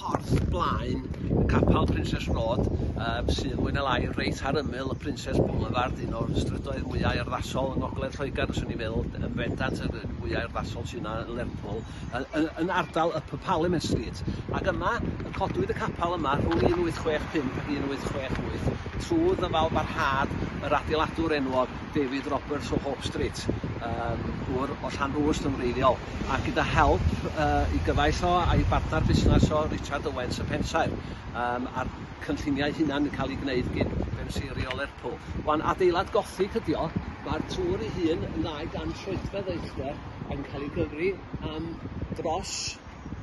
porth blaen y capel Princess Road, um, sydd mwy na lai reit ar ymyl y Princess Boulevard, un o'r strydoedd mwyau arddasol yng Ngogledd Lloegr, os o'n i'n meddwl, yn fendant y mwyau arddasol sy'n yna yn Lerpwl, yn, yn ardal y Parliament Street. Ac yma, y codwyd y capel yma rhwng 1865 ac 1868, trwy ddyfal barhad yr adeiladwr enwog David Roberts o Hope Street, um, gŵr o Llanrwst yn wreiddiol. a gyda help yy i gyfaill o a'i bartner busnes o Richard Owens y Pensaer yym a'r cynlluniau hunan yn cael ei gwneud gin Benseiriol Lerpwl. Wan adeilad gothig ydi o, mae'r tŵr ei hun yn ddau gan troedfedd o uchder ac yn cael ei gyfri am dros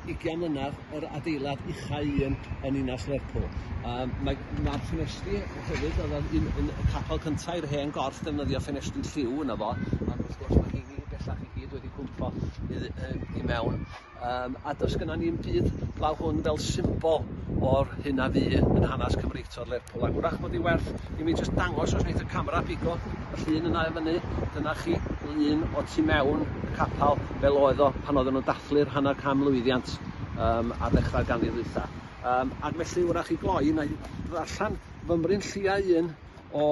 ugian mlynedd, yr adeilad uchau un yn ninas Lerpwl. Yym mae mae'r ffenestri hefyd oedd o'n un un y capel cynta' i'r hen gorff defnyddio ffenestri lliw yno fo ond wrth gwrs ma' rheini bellach i gyd wedi cwmpo i yn i mewn yym a does gynno ni 'im byd fel hwn fel symbol o'r hyn a fu yn hanes Cymreictod Lerpwl ac wrach bod 'i werth i mi jyst dangos os neith y camera bigo y llun yna i fyny dyna chi lun o tu mewn y capal fel oedd o pan oedden nhw'n dathlu'r hanner cam lwyddiant um, ar ddechrau'r ganrif ddwytha. Um, ac felly wrach i gloi, na i ddarllen fymryn lliau un o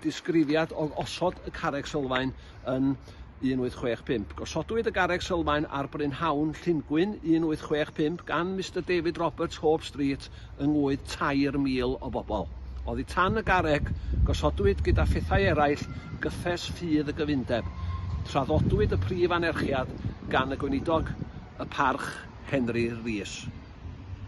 disgrifiad o osod y carreg sylfaen yn 1865. Gosodwyd y garreg sylfaen ar brynhawn Llungwyn 1865 gan Mister David Roberts, Hope Street, yng ngwŷdd 3,000 o bobl. Oddi tan y garreg, gosodwyd gyda phethau eraill gyffes ffydd y gyfundeb. Traddodwyd y prif anerchiad gan y Gweinidog y Parch, Henry Rees.